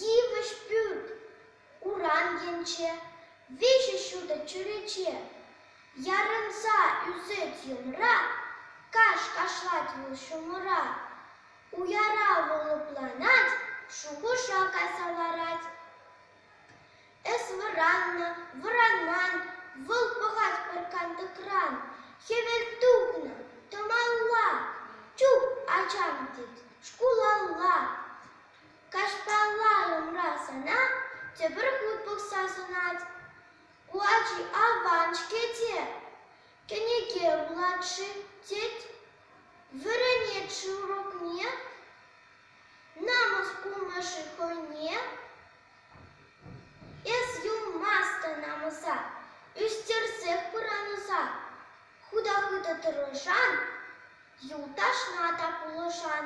Йывӑҫ пӳрт урам енче, виҫӗ ҫутӑ чӳрече. Ярӑнса ӳсет йӑмра, каҫ кашлать вӑл ҫумӑра. Уяра вӑл лӑпланать, шухӑша кайса ларать. Эс вӑраннӑ, вӑранман, вӑл пӑхать пӑркантӑкран. Хӗвел тухнӑ, тӑмалла, чуп ачам тет, шкулалла. Каҫпалла умра сана тепӗр хут пӑхса сунать. Ку ачи аван-ҫке те, кӗнеке вулать-ши тет. Вӗренет-ши урокне? Намӑс кумӗ-ши хӑйне? Эс юлмастӑн намӑса, ӳстерсех пыранӑса. Худа-хытӑ тӑрӑшан, юлташна та пулӑшан.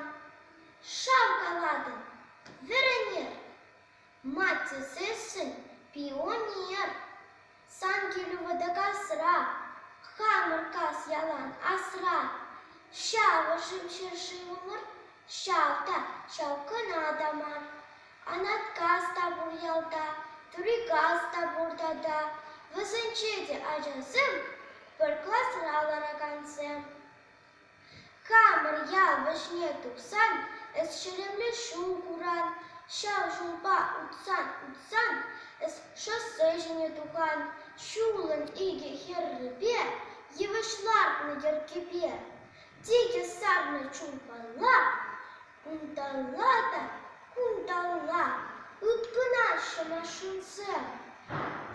Ҫав калатӑн вӗренер, маттесессӗн пионер. Сан килӳ вӑтакасра, хамӑр кас ялан асра. Ҫавӑшӑн ҫӗршывӑмӑр, ҫав та ҫав кӑна та мар. Анат кас та пур ялта, тӳри кас та пур тата. Вӗсенче те ачасем, пӗр класра ларакансем. Хамӑр ял вӗҫне тухсан эс ҫеремле ҫул куран, ҫав ҫулпа утсан-утсан эс шоссе ҫине тухан, ҫулӑн икӗ хӗррипе йывӑҫ лартнӑ йӗркепе тикӗс сарнӑ чулпала Кунталла та кунталла ыткӑнаҫҫӗ машинсем.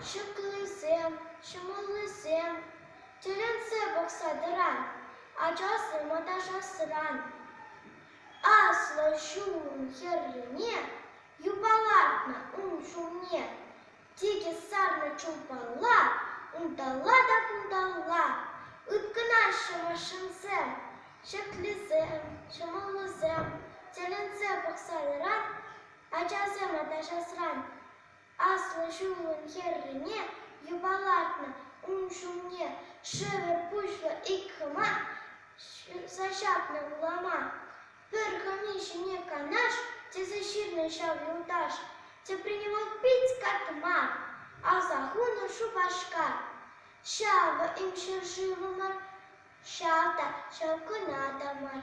Ҫыклисем, ҫӑмӑллисем тӗлӗнсе пӑхса тӑран ачасем аташасран. Аслӑ ҫул хӗррине юпалатнӑ ун ҫумне Тикӗс сарнӑ чулпалла, унталла та кунталла ыткӑнаҫҫӗ машинсем. Ҫӗклисем, ҫӑмӑллисем тӗлӗнсе пӑхса ярать ачасем ачасран. Аслӑ ҫулӑн хӗррине юпалатнӑ ун ҫумне шӗвӗр пуҫлӑ ик хӑма ҫырса ҫапнӑ улама. Пӗр хӑми ҫине канаш тесе ҫырнӑ ҫав юлташ. Тӗпренево пит катма, аса хунӑ Шупашкар. Ҫавӑ им ҫӗршывӑмӑр, ҫав та ҫав кӑна та мар.